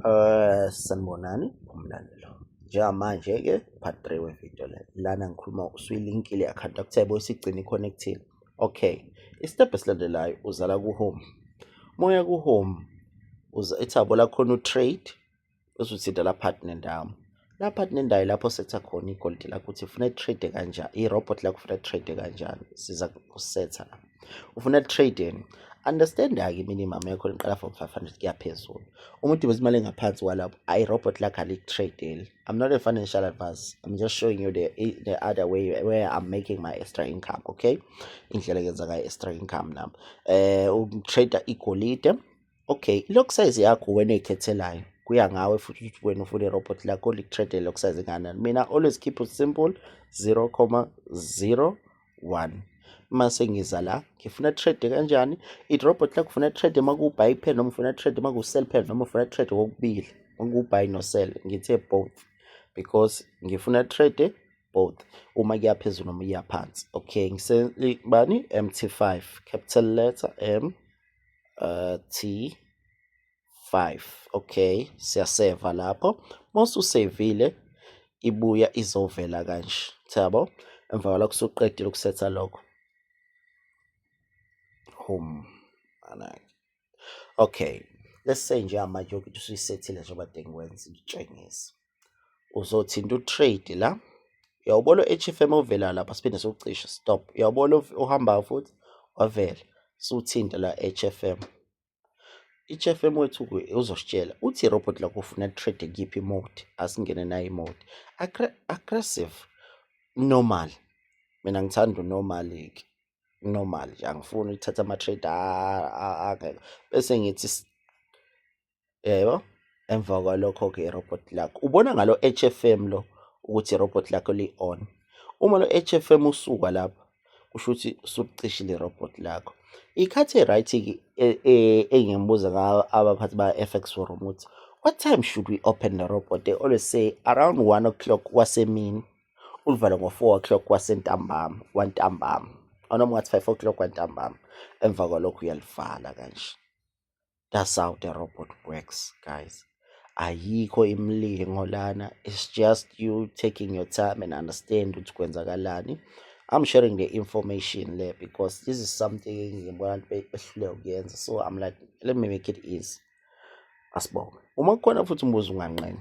Eh sanibonani umlandelo. Njengamanje ke part 3 we video le. Lana ngikhuluma usuyilinkile account akuthe bo isigcina iconnectile. Okay. Istep esilandelayo uzala ku home. Moya ku home uza ethabo lakho no trade bese uthinta la partner ndawo. Lapha kunendawo lapho setha khona igolide lakho ukuthi ufuna trade kanjani, i-robot lakho ufuna trade kanjani, siza kusetha la. Ufuna trade yini? Understand-ke i-minimum yakho liqala from 500 kuya phezulu. Uma udibisa imali engaphansi kwalapho, i-robot lakho aliku-trade-eli. I'm not a financial advisor. I'm just showing you the, the other way where I'm making my extra income, okay? Indlela engenza ngayo extra income nami. Eh, um, trader igolide. Okay, i-lock size yakho wena oyikhethelayo kuya ngawe futhi ukuthi wena ufuna irobot lakho liku-trade le-lock size enganani mina always keep it simple 0,01 mase ngiza la ngifuna trade kanjani i-robot lakho ufuna trade uma kuwubuy pen noma ufuna trade uma kuwu-sell pen noma ufuna trade kokubili okuwubuy no-sell ngithe both because ngifuna trade both uma kuya phezulu noma iya phansi okay ngisebani MT5 capital letter M uh, t 5 okay siyaseva lapho mosusevile ibuya izovela kanje thabo emva kwalokho suqedile ukusetha lokho home anake okay let's say nje amanje ukuthi usuyisethile njengoba dengikwenza ngitshengise uzothinta utrade la uyawubona u-hfm ovelayo lapha siphinde siwucishe stop uyawubona ohambayo futhi wavela siwuthinta la hfm i-hfm wethu uzositshela uthi irobot lakho ufuna trade kuyiphi mode asingene nayo imode aggressive normal mina ngithanda unormal-ke normal nje angifuni ukuthatha ama-trade angekho bese ngithi yebo emva kwalokho ke robot lock ubona ngalo HFM lo ukuthi irobot lakho li-on uma lo HFM usuka lapho kusho ukuthi usulicishile irobot lakho ikhathi e-right e, e, engibuza ngayo abaphathi ba-fx forum ukuthi what time should we open the robot they always say around one o'clock wasemini ulivale ngo-four o'clock wasentambama wantambama anoma ungathi five o'clock wantambama emva kwalokho uyalivala kanje That's how the robot works, guys. Ayikho imilingo lana. It's just you taking your time and understand ukuthi kwenzakalani. I'm sharing the information there because this is something ngibona behluleka ukuyenza. So I'm like, let me make it easy. Asibonge. Uma kukhona futhi umbuzo unganqeni.